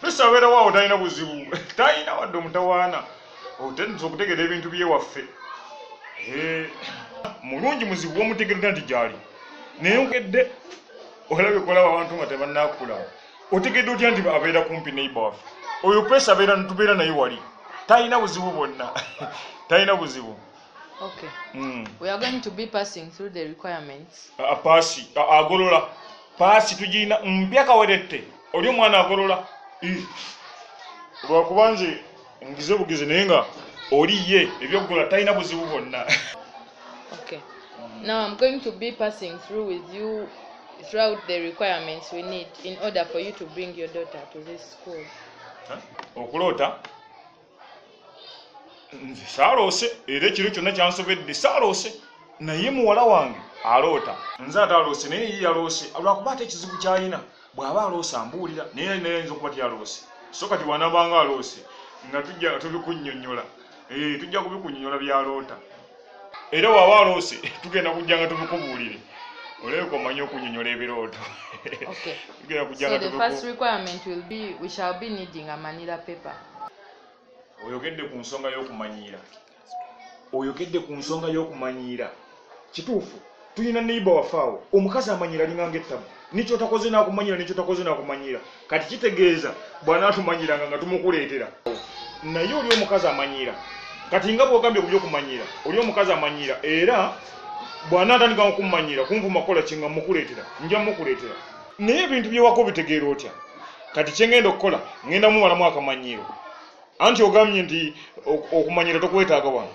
kristo abeerawo awo talina buzibu talina wadde omutawaana otendesa okutegeera ebintu byewaffe eh, mulungi muzibu womutegerera nti gyali naye ogedde olabye kolaba abantu nga tebanakula otegedde otya nti abeera kumpi neiba waffe oyo pesa abeera tubeera naye wali talina buzibu bwonna talina buzibu Okay. Mm. We are going to be passing through the requirements. Uh, pass. Uh, agolola. Pass tujina mpya kawerete. oli omwana agolola lwakuba nze ngize bugizi naye nga oli ye ebyokugola talina buzibu bwonna okay. now i'm going to be passing through with you throughout the requirements we need in order for you to bring your daughter to this school okuloota huh? nze saaloose era ekiro kyonna kyansobedde saaloose naye muwala wange aloota nze ate aloose naye ye yaloose lwakuba ate ekizibu kyalina bw'aba aloose ambuulira naye yali naye ayinza okuba tyaloose so kati bwanabanga aloose nga tujja tubikunyonyola eh, tujja kubikunyonyola byaloota era waba aloose tugenda kujja nga tubikubuulire olabika omanyi okunyonyola ebirooto tugenda kujja nga oyogedde ku nsonga y'okumanyiira oyogedde ku nsonga y'okumanyiira kituufu tuyina neiba wafe awo omukazi amanyira alinga nga ettabu nikyotakoze nakumanyira nikyotakoze nakumanyira kati kitegeeza bwanatumanyiranga nga tumukuleetera naye oli omukazi amanyira kati nga bwogambye ku byokumanyira oli omukazi amanyira era bwanatandika okumanyira kunvuma kukola kinga mukuleetera nja mukuleetera naye ebintu byewako bitegeera otya kati kyengenda okukola ngenda mumalamu akamanyiiro anti ogambye nti okumanyira tokwetaaga wano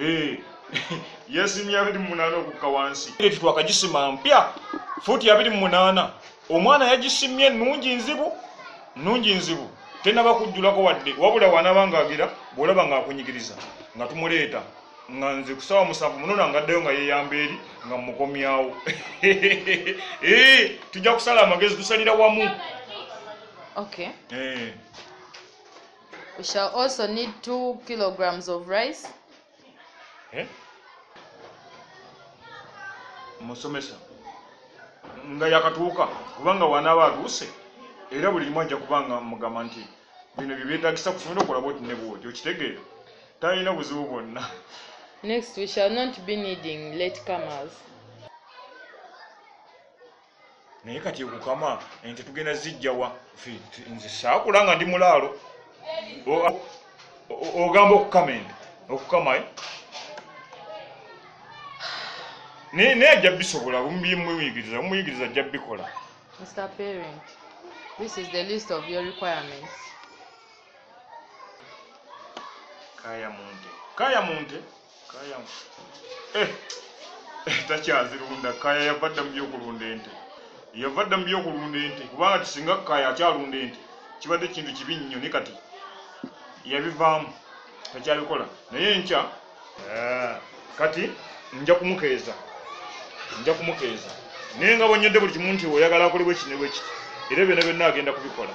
Eh, yesimye abiri mu munaana okukka wansi eti twakagisima mpya fuuti abiri mu munaana omwana yagisimye nungi nzibu nungi nzibu tenaba kujjulako wadde wabula wanaba ngaagira bwolaba ngaakunyigiriza nga tumuleeta nga nze kusawa musanvu munona ngaddayo nga yeyamba eri nga mukomyawo eh, tujja kusala amagezi tusalira wamu okay. eh. we shall also need two kilograms of rice eh? musomesa nga yakatuuka kubanga wanaaba atuuse era buli limu ajja kubanga mugamba nti bino byebyetagisa kusomera okola bwoti ne bwoti okitegeera talina buzibu bwonna next we shall not be needing late comers naye kati okukama ente tugenda zijjawa nze saakula nga ndi mulaalo ogamba okukama ente okukama eh? naye naye ajja bisobola mumuyigiriza mumuyigiriza ajja bikola mr parent this is the list of your requirements kaya munte kaya munte kaya eh, eh, takyazirunda kaya yava dda mu byokulunda ente yava dda mu byokulunda ente kubanga tisinga kaya akyalunda ente kibadde kintu kibi nnyo ne kati yabivaamu takyabikola naye nkya eh, kati nja kumukeeza nja kumukeeza naye nga bonyodde buli kimu nti oyagala akolebwa ekinebwe kiti era byona byonna agenda kubikola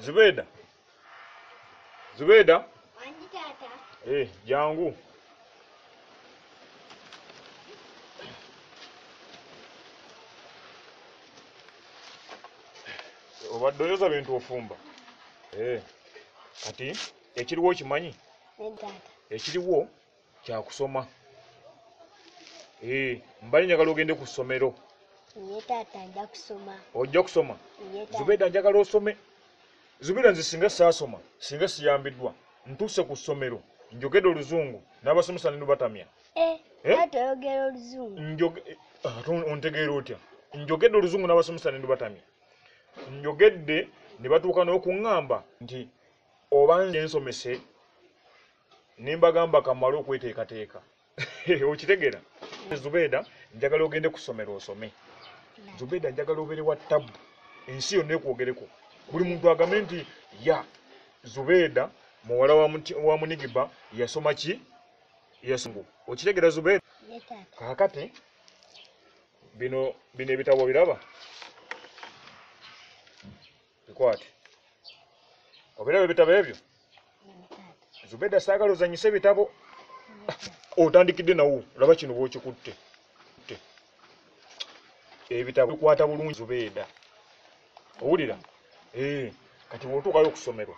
Zubeda. Zubeda. Wangi tata. Eh, jangu. Obadde oyoza bintu ofumba. Eh. Kati ekiriwo okimanyi? Ekiriwo kyakusoma eh, mbali njagala ogende ku ssomero ojja kusoma zubeda njagala osome zubeda nze singa saasoma singa siyambiddwa ntuuse ku ssomero njogede oluzungu n'abasomesa nenubatamya eh, eh? ah, ontegeera otya njogedde oluzungu n'abasomesa nenubatamya njogedde ne batuuka n'okuŋŋamba nti oba nze nsomese nembagamba kamale okweteekateeka okitegera zubeeda njagala ogende kusomero osome zubeeda njagala obere wa tabu ensi yonna ekwogereko buli muntu agambe nti ya zubeeda muwala wa munigiba yasoma ki yasungu okitegera zubeeda kakati bino bino ebitabo biraba bikwate obiraba ebitabo ebyo zubeda saagala ozanyise ebitabo otandikidde nawo olaba kino bwokikutte ebitabo bikwata bulungi zubeda owulira eh, kati bwotuukayo okusomerwa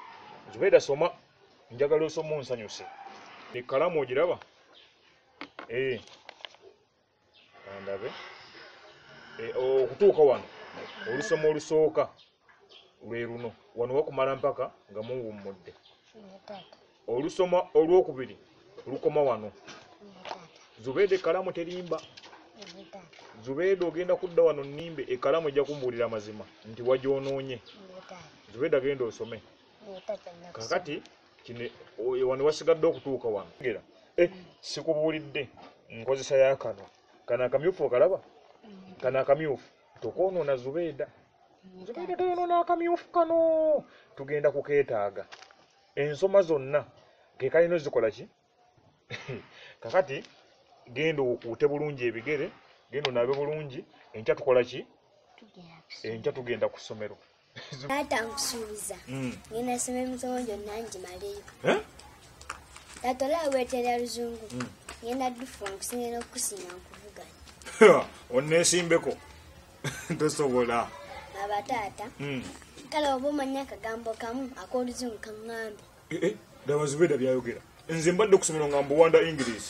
zubeda soma njagala osoma onsanyuse ekalamu ogiraba eh. kandabe e, okutuuka wano olusoma olusooka lwe luno wano wakumala mpaka nga muwummudde olusoma olwokubiri lukoma wano zubeeda ekalamu terimba zubeeda ogenda kudda wano nimbe ekalamu ejja kumbuulira amazima nti wagyonoonye zubeeda genda osome kakati wano wasigadde okutuuka wano gera eh, sikubuulidde nkozesa yakano kano akamyufu okalaba kano akamyufu tokwonoona zubeeda zubeeda toyonoona akamyufu kano tugenda kukeetaaga ensoma zonna kekalina ozikola ki kakati genda okuute bulungi ebigere genda onabe bulungi enkya tukola ki enkya tugenda ku ssomero taata nkusuubiza hmm. ngenda soma emisomo gyonna ngimaleyo eh? taata olaba weterera luzungu hmm. ngenda dufu nkusingira okukusiima nkuvuganya onesimbeko tosobola aba taata hmm. kale oba omanya akagambo kamu akoluzungu kaŋŋambi eh, eh, daba zubeda byayogera nze mbadde kusomero nga mbuwanda english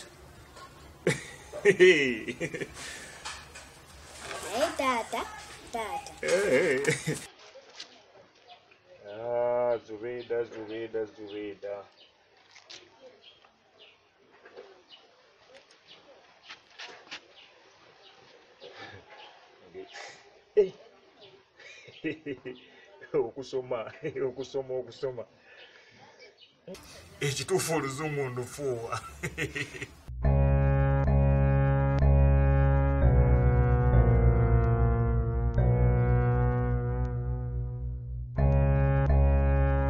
naye taata taata eh, ah, zubeda zubeda zubeda Eh. okusoma okusoma okusoma ekituufu oluzungu ndufuuwa